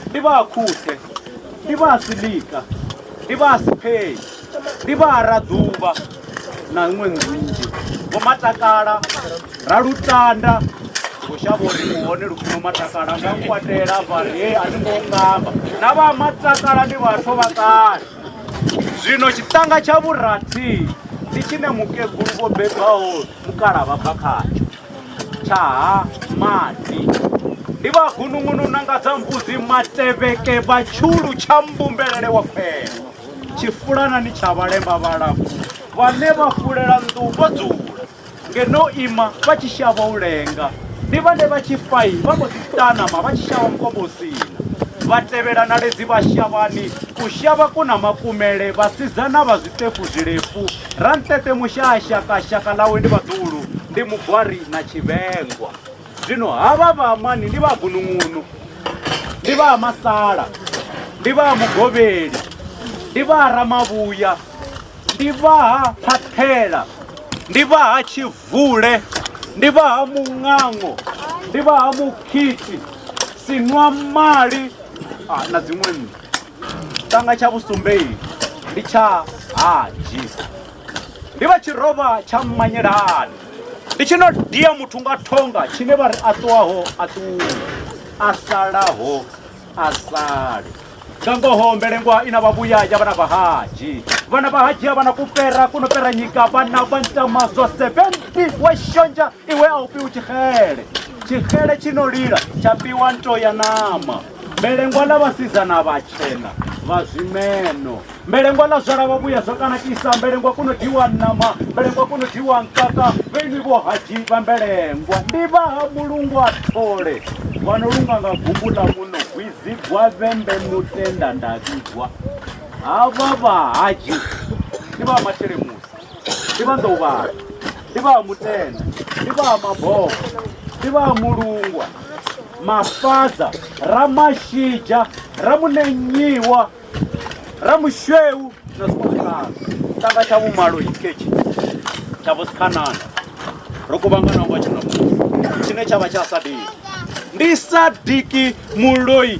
ndi vha khuthe ndi vha silika ndi vha sipei ndi vha raḓuvha na ṅwe nzhinzhi vho matakala ra lutanda vhushavha uri u hone lufuno matakala nga nkwatela vhari he a ni ngo ngamba na vha matakala ndi vhathu vha kale zwino tshiṱanga tsha vhurathi ndi tshine mukegulu vho bebaho mukala vha bva khatsho Tshaha maḓi. Ndi vha gunungunu na nga dza mbudzi matevheke vha tshulu tsha mbumbelele wa khwelo. Tshifulana ni tsha vhalemba vhalapfu vhane vha fulela nnḓu vho dzula. Ngeno ima vha tshi shavha u lenga. Ndi vhane vha tshi fai vha mbo ḓi tanama vha tshi shavha mukobosina. Vha tevhela na ledzi vha shavhani u shavha ku na makumele vhasidzana vha zwiṱefu zwilefu Rantete Mushasha ka shaka ḽawe ndi Vhaḓulu, ndi Mugwari na Tshivhengwa. Zwino havha vha Amani ndi vha Gunungunu, ndi vha Masala, ndi vha Mugovheli, ndi vha Ramavhuya, ndi vha ha Phaṱhela, ndi vha ha Tshivule, ndi vha ha Muṅango, ndi vha ha Mukhiti, Sinwamali na dziṅwe nnḓu. Tshanga tsha vhusumbeli ndi tsha Haji ndi vha tshirovha tsha mmanyelani ndi tshi no dia muthu nga thonga tshine vha ri a ṱuwaho a ṱuwe a salaho a sale nga ngoho mbelengwa i na vhavhuya ya vhana vha haji vhana vha haji a vhana kupera kuno pera nyika vhana vha ntama zwa 70 we shonzha iwe a u fhiwi tshixele tshixele tshi no lila tsha fhiwa nto ya nama mbelengwa ḽa vhasidzana vhatshena vha zwimeno mbelengwa ḽa zwala vha vhuya zwo kana kisa mbelengwa kuno diwa ṋama mbelengwa kuno diwa nkaka vhaini vho haji vha mbelengwa ndi vha ha mulungu a thole vha no lunga nga gumbu ḽa muno gwizigwa vhembe mutenda nda vhigwa havha vha haji ndi vha masheleni ndi vha nḓouvhathu ndi vha ha mutenda ndi vha ha mabobo ndi vha ha mulungwa mafadza ramashija ramunenyiwa ramushweu na zwikwazwikwazwo tanga tsha vhumalo ikhetshi tsha vhosikhanana ro kuvhangana ngo tshino tshine tsha vha tsha sadiki ndi sadiki muloi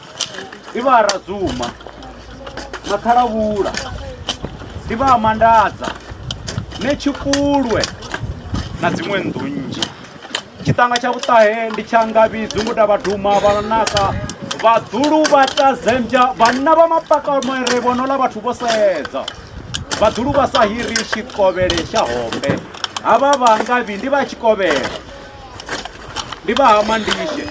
ndi vha a radzuma na ṱhalavhula ndi vha a mandadza ne tshikulwe na dziṅwe nnḓu nnzhi tshiṱanga tsha vhuṱahe ndi tsha ngavhi dzungu ta vhaduma vhanaka vhaḓulu vha tazembya vhanna vha mapakamere vhonola vhathu vho sedza vhaḓulu vha sa hiri tshikovhele tsha hombe havha vha ngavhi ndi vha tshikovhela ndi vha ha mandishe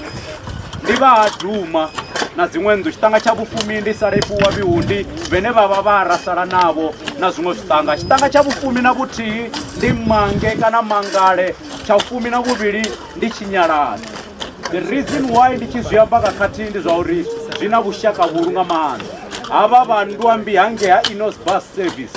ndi vha ha duma na dziṅwe nnḓu tshiṱanga tsha vhufumi ndi sala ifhiwa vhihundi vhene vha vha vha ra sala navho na zwiṅwe zwiṱanga tshiṱanga tsha vhufumi na vhuthihi ndi mange kana mangale tsha vhufumi na vhuvhili ndi tshinyalani the reason why ndi tshi zwi amba nga khathihi ndi zwa uri zwi na vhushaka vhulu nga maanḓa havha vha nndwambi hangei ha inos bus service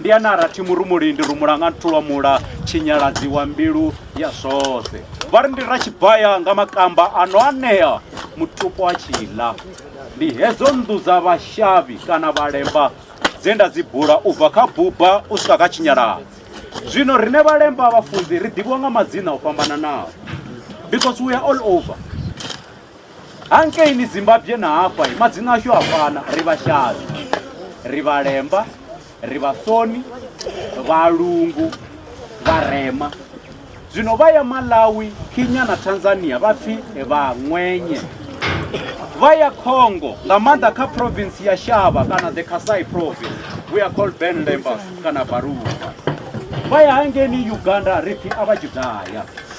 Ndi ene a ra thi murumulindi rumula nga nthu lwa mula tshinyalazi wa mbilu ya zwoṱhe. Vha ri ndi ra tshibaya nga makamba a no anea mutupo a tshi ḽa. Ndi hedzo nnḓu dza vhashavhi kana vhalemba dze nda dzi bula u bva kha buba u swika kha tshinyalazi. Zwino riṋe vhalemba vhafunzi ri ḓivhiwa nga madzina o fhambananaho. Because we are all over. Hangei ni Zimbabwe na hafha madzina ashu a fana ri vhashavi ri vhalemba ri vhasoni vhalungu vharema zwino vha ya malawi kenya na tanzania vha pfi vha ṅwenye vha ya congo nga maanḓa kha province ya shava kana the kasai province we are called ben lembas kana baruva vha ya hangeni uganda ri pfi a vha judaya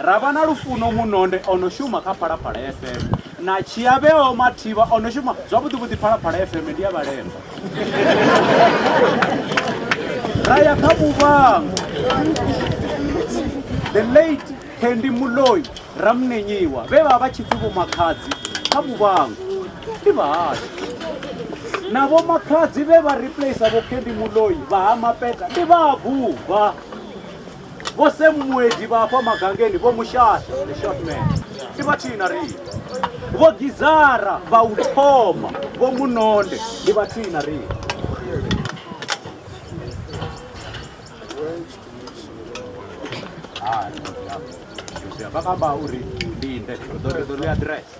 Ra vha na Lufuno Munonde o no shuma kha Phalaphala FM na Tshiavheo Mathivha o no shuma zwavhuḓi vhuḓi Phalaphala FM ndi ya vhalemba. Ra ya kha Muvhango the late Candy Muloi Ramnenyiwa vhe vha vha tshi pfi vho Makhadzi kha Muvhango ndi vhahashu na vho Makhadzi vhe vha replacer vho Candy Muloi vha ha Mapeta ndi vha ha Buvha. Vho Sam Muedi vha afha magangeni vho Mushasha the short man ndi vhathihi na riṋe. Vho Gizara vha u thoma vho Munonde ndi vhathihi na riṋe. Hai, vha kamba uri linde ri ḓo ri ḓo ṋea aḓirese.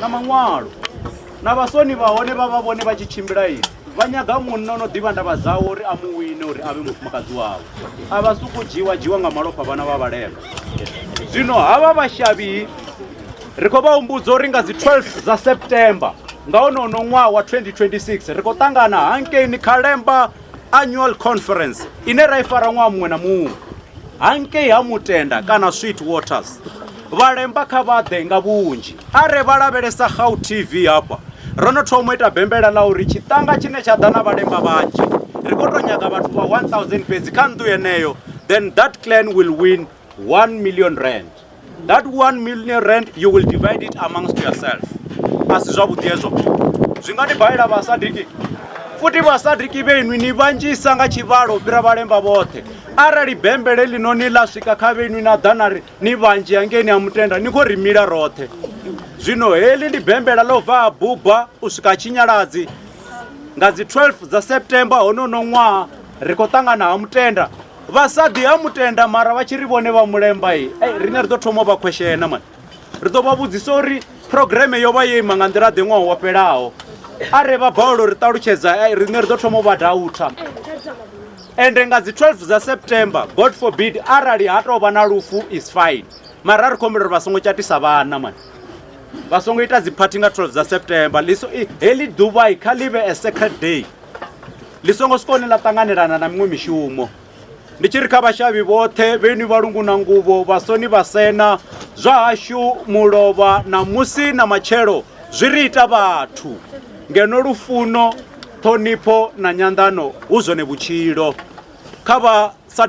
na maṅwalo na vhasoni vha hone vha vha vhone vha tshi tshimbila ini vha nyaga munna ono ḓivha ndavha dzawe uri a mu wine uri a vhe mufumakadzi wawe a vha suku dzhiwa dzhiwa nga malofha vhana vha vhalema zwino havha vhashavhi ri khou vha humbudza uri nga dzi 12 dza september nga honono ṅwaha wa 2026 ri khou ṱangana hankeini khalemba annual conference ine ra i fara ṅwaha muṅwe na muṅwe hangei ha mutenda kana sweet waters vhalemba kha vhaḓe nga vhunzhi a re vha lavhelesa gau tv hafha ro no thoma u ita bembela ḽa uri tshiṱanga tshine tsha ḓa na vhalemba vhanzhi ri khou tou nyaga vhathu vha 1000 fhedzi kha nnḓu yeneyo then that clan will win 1 million rand that 1 million rand you will divide it amongst yourself a si zwavhuḓi hezwo zwi nga ni balela vhasadiki futhi vhasadiki vhenwi ni vhanzhisa nga tshivhalo u fhira vhalemba vhoṱhe arali bembele ḽino ni ḽa swika kha vhenwi na ḓa na ri ni vhanzhi hangeni a mutenda ni khou ri mila roṱhe zwino heḽi ndi bembela ḽo bva a buba u swika tshinyaladzi nga dzi 12 dza september honono ṅwaha ri khou ṱangana ha mutenda vhasaḓi ha mutenda mara vha tshi ri vhone vha mulemba e riṋe ri ḓo thoma vha khweshena mani ri ḓo vha vhudzisa uri programe yo vha yo ima nga nḓila ḓe ṅwaha wo fhelaho a re vha balelwa ri ṱalutshedza e riṋe ri ḓo thoma vha dautha ende nga dzi 12 dza september god forbid arali ha tou vha na lufu is fine mara ri khou humbela uri vha songo tshatisa vhana mani vha songo ita dziphathi nga 12 dza september liso heḽi ḓuvha kha ḽi vhe a secret day ndi songo siko ni ḽa ṱanganelana na miṅwe mishumo ndi tshi ri kha vhashavhi vhoṱhe vheni vha lungu na nguvho vhasoni vha sena zwa hashu mulovha na musi na matshelo zwi ri ita vhathu ngeno lufuno ṱhonipho na nyanḓano hu zwone vhutshilo kha vha sa